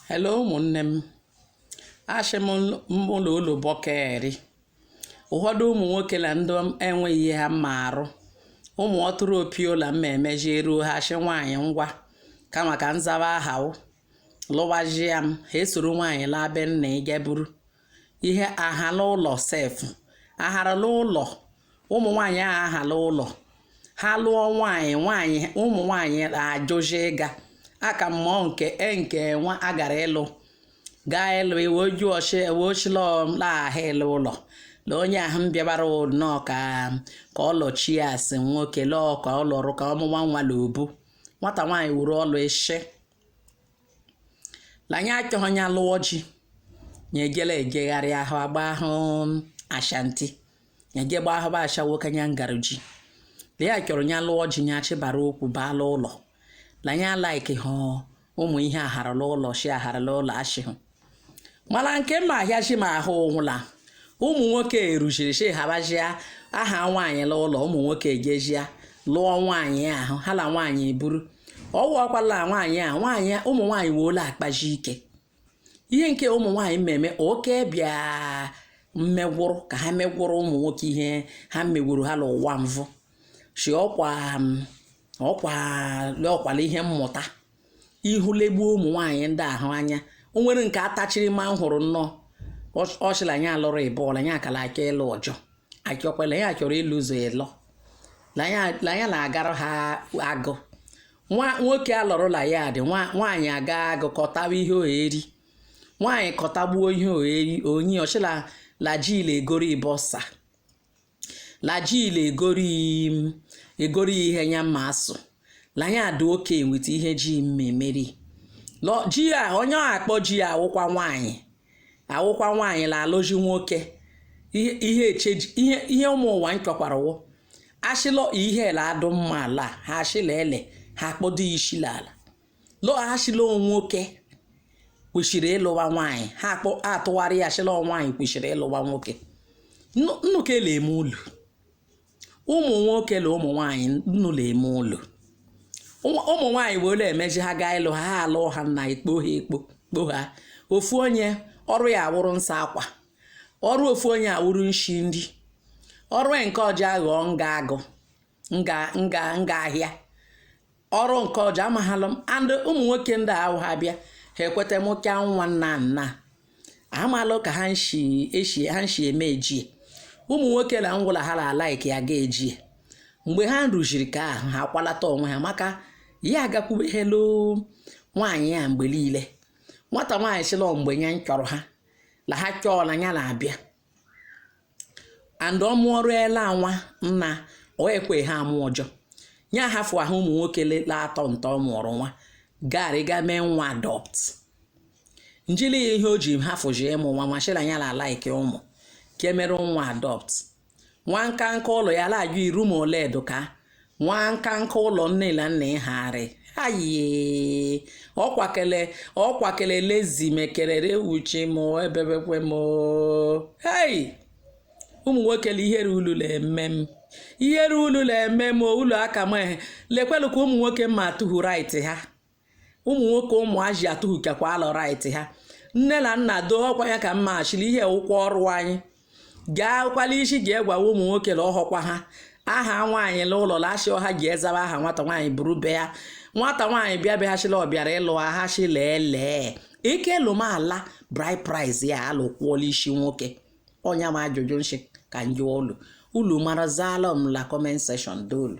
hello ụmụnne m ashị m ụlọ ụlọ bọkeri ụfọdụ ụmụ nwoke la ndị enweghị ihe ha ma arụ ụmụ ọtụrụ opiola mma emeji eruo ha ashị nwaanyị ngwa kama ka m zaba aha lụwazie m ha esoro nwaanyị laa be nna ya ga buru ihe ahala ụlọ sef aharala ụlọ ụmụ nwaanyị ahụ ahala ụlọ ha lụọ nwaanyị nwaanyị ụmụ nwaanyị ajụjụ ịga aka mmụọ nke e nke nwa agara ịlụ gaa ịlụ iwe oju ọchị ewe ochila laghaha ịlụ ụlọ la onye ahụ m bịabara nnọọ ka ọ lụchie asị nwoke lụọ ka ọ lụrụ ka ọ mụwa nwa la obu nwata nwaanyị wuru ọlụ ishi la nya achọghị nya alụọ ji nya ejela ejegharị ahụ agba ahụ ashanti nya eje gba ahụ bụ ashawo ka nya ngara ji la nya chọrọ nya lụọ ji nya chịbara ụkwụ baa la ụlọ la nya like hụ ụmụ ihe aharala ụlọ shi aharala ụlọ ashịhụ mala nke mma ahịachi m ahụ wụ la ụmụ nwoke erujiri shi habajia aha nwaanyị la ụlọ ụmụ nwoke ejejia lụọ nwaanyị ahụ ha la nwaanyị eburu ọwụ ọkwala nwaanyị a nwaanyị ụmụ nwaanyị woola akpaji ike ihe nke ụmụ nwaanyị mmemme oke bịa mmegwụrụ ka ha megwụrụ ụmụ nwoke ihe ha megwuru ha n'ụwa mvụ si ọkwa ọkwa ọkwala ihe mmụta ihu legbuo ụmụ nwaanyị ndị ahụ anya o nwere nke atachiri ma m hụrụ nnọọ ọ shị la nya alụrụ ịbụọ la nya akala aka ịlụ ọjọ achọkwa la nya chọrọ ịlụ ọzọ ịlọ la nya la-agara ha agụ nwoke alọrụla ya dị nwaanyị aga agụ kọtawa ihe oheri nwaanyị kọtagbuo ihe oheri onye ọ shị la lajile egoro ịbọsa la ji la egori ihe nya ma asụ la nya adị oke weight ihe ji mmemeri lọ ji a onye ọ akpọ ji ya awụkwa nwaanyị awụkwa nwaanyị la alụji nwoke ihe ihe eche ihe ihe ụmụ ụwa nchọkwara wụ ashịlọ ihe la adụ mma ala ha ashị la ele ha kpọdo ishi la ala lọ ashị la nwoke kwesịrị ịlụwa nwaanyị ha atụgharị ya shị la nwaanyị kwesịrị ịlụwa nwoke nnụ ka ele eme ụlọ ụmụ nwoke la ụmụ nwaanyị nnụ la-eme ụlọ ụmụ nwaanyị wee ụlọ emeji ha gaa ịlụ ha ha alụ ha na ekpo ha ekpo kpo ha ofu onye ọrụ ya awụrụ nsa akwa ọrụ ofu onye awụrụ nshi nri ọrụ nke ọjọ aghọọ nga agụ nga nga nga ahịa ọrụ nke ọjọ amaghịlụ m and ụmụ nwoke ndị ahụ ha bịa ha ekweta m ka nwa nna nna amalụ ka ha nshi eshi ha nshi eme ejie ụmụ nwoke na ngwụla ha la like ya ga ejie mgbe ha rụziri ka ahụ ha kwalata onwe ha maka ya agakwubeghelu nwaanyị ya mgbe niile nwata nwaanyị sịlọ mgbe ya chọrọ ha na ha chọọ na ya na-abịa and ọ mụọrụela nwa nna o kweha amụ ọjọ ya hafụ ahụ ụmụ nwoke la atọ nta ọ mụọrọ nwa gari ga mee nwa adopt njili ya ihe o ji hafụji ịmụ nwa machila ya la like ụmụ ke e mere nwa adopt nwa nka nka ụlọ ya la ajụ iru ma ole edoka nwa nka nka ụlọ nne na nna ịhagharị ayi ọkwakele ọkwakele lezi mekerere wuchi m ebebekwe m hei ụmụ nwoke na ihere ulu na-eme m ihere ulu na-eme m ulu aka m ehe lekwelu ka ụmụ nwoke matụhu right ha ụmụ nwoke ụmụaji atụhukakwa alọ right ha nne na nna doo ọkwa ya ka mma achịrị ihe ụkwụ ọrụ anyị gaa kwala isi ga egwawa ụmụ nwoke na ọhọkwa ha aha nwaanyị la ụlọ lachi ọha ji ezaba aha nwata nwaanyị buru be ya nwata nwaanyị bịa bịaghachila ọ bịara ịlụ ahachi leelee ike lụmala bride price ya alụkwuola isi nwoke ọnya ma ajụjụ nshi ka njụ ulu ulu mara zala m la comment section dolu